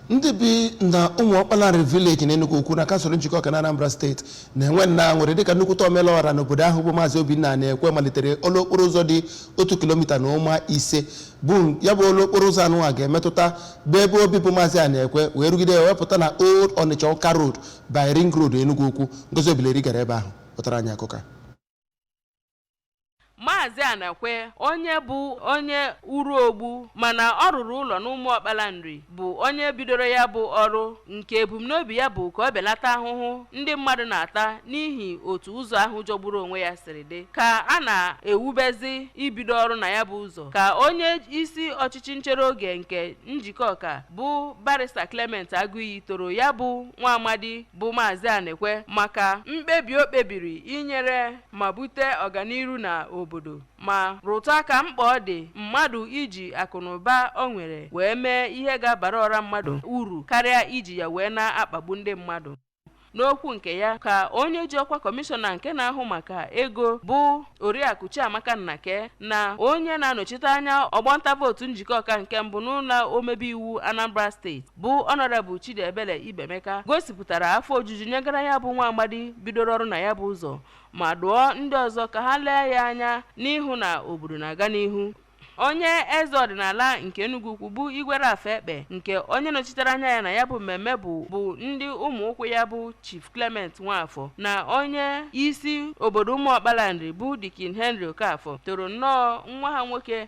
ndị bi na Ụmụọkpaleri vileji na Enugwu Ukwu na kansụl Njikọka na Anambra steeti na-enwe nnọọ aṅụrị dịka nnukwute omelọra n'obodo ahụ bụ maazị Obinna Anekwe malitere ọlụ okporo ụzọ dị otu kilomita na ụma ise bụ ya bụ ọlụ okporo ụzọ anụwa ga-emetụta bụ ebe obibi maazị Anekwe wee rugide wee pụta na Old Onitsha Ọka Road by Ring Road Enugwu Ukwu Ngozi Obileri gara ebe ahụ pụtara anyị akụkọ a. Maazị Anekwe onye bụ onye Uruogbo mana ọ rụrụ ụlọ n'Ụmụọkpaleri bụ onye bidoro ya bụ ọrụ nke ebumnobi ya bụ ka ọ belata ahụhụ ndị mmadụ na-ata n'ihi otu ụzọ ahụ jọgburu onwe ya siri dị ka a na-ewubezi ibido ọrụ na ya bụ ụzọ ka onye isi ọchịchị nchere oge nke Njikọka bụ barista Clement Agụiyi toro ya bụ nwa amadi bụ Maazị Anekwe maka mkpebi o kpebiri inyere ma bute ọganiru na obodo ma rụtụ aka mkpa ọ dị mmadụ iji akụnụba o nwere wee mee ihe ga-abara ọra mmadụ uru karịa iji ya wee na-akpagbu ndị mmadụ n'okwu nke ya ka onye ji ọkwa kọmishọna nke na-ahụ maka ego bụ oriakụ chiamaka nnake na onye na-anọchite anya ọgbọ nta vootu Njikọka nke mbụ n'ụlọ omebe iwu anambra steeti bụ Honourable Chidiebele Ibemeka gosipụtara afọ ojuju nyegara ya bụ nwa amadi bidoro ọrụ na ya bụ ụzọ ma dụọ ndị ọzọ ka ha lee ya anya n'ịhụ na obodo na-aga n'ihu onye eze ọdịnala nke Enugwu Ukwu bụ Igwe Ralph Ekpeh nke onye nọchitere anya ya na ya bụ mmemme bụ bụ ndị ụmụ ụkwụ ya bụ Chief Clement Nwafọ na onye isi obodo Ụmụọkpaleri bụ Dikin Henry Okafọ toro nnọọ nwa ha nwoke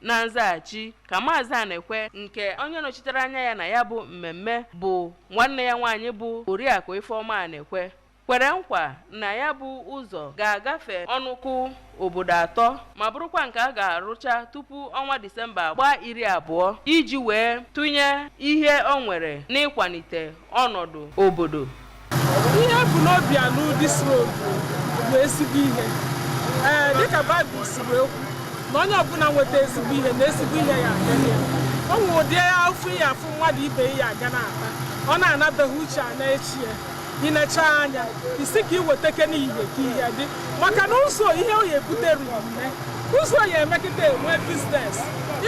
Na nzaghachi ka Maazị Anekwe nke onye nọchitere anya ya na ya bụ mmemme bụ nwanne ya nwaanyị bụ Oriakụ Ifeọma Anekwe kwere nkwa na ya bụ ụzọ ga-agafe ọnụkụ obodo atọ ma bụrụkwa nke a ga-arụcha tupu ọnwa Disemba gbaa iri abụọ iji wee tụnye ihe o nwere n'ịkwalite ọnọdụ obodo. Ihe e bu n'obi alụ this road bụ ezigbo ihe. Ee, dịka Baịbụl si wee kwu na onye ọbụla nweta ezigbo ihe na ezigbo ihe ya adịrị ya. O nwere ụdị afụfụ ị ya afụ mmadụ ibe ya aga na-ata, ọ na-anabeghị uche a na-echi ya. I nechaa anya, ị sị ka ị weteke n'ihe ka ihe dị maka na ụzọ ihe o ya ebute ruru nne ụzọ ya emekịta enwe biznes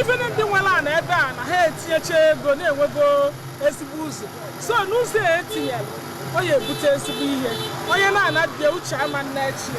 ife ndị nwere ana ebe a na ha etinyecha ego na-enwego ezigbo ụzọ so n'ụzọ a etinyere ọ ya ebute ezigbo ihe onye na-anabịa uche ama nna echi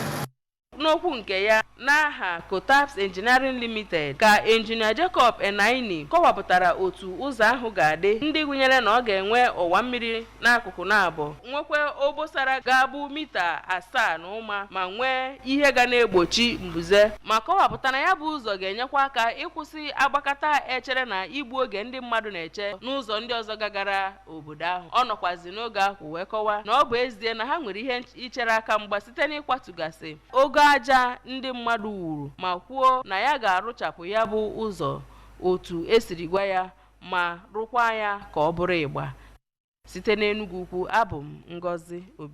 n'okwu nke ya n'aha Cotaps Engineering Limited ka injinia Jacob Enaini kọwapụtara otu ụzọ ahụ ga-adị ndị gụnyere na ọ ga-enwe ọwa mmiri n'akụkụ naabọ nwekwaa obosara ga-abụ mita asaa na ụma ma nwee ihe ga na-egbochi mbuze ma kọwapụta na ya bụ ụzọ ga-enyekwa aka ịkwụsị sị agbakata echere na igbu oge ndị mmadụ na-eche n'ụzọ ndị ọzọ gagara obodo ahụ ọ nọkwazi n'oge ahụ wee kọwaa na ọ bụ ezie na ha nwere ihe nch- ichere aka mgba site n'ịkwatugasị ogo aja ndị mmadụ wuru ma kwuo na ya ga-arụchapụ ya bụ ụzọ otu esiri gwa ya ma rụkwaa ya ka ọ bụrụ ịgba site n'Enugu ukwu abụ m Ngozi Obi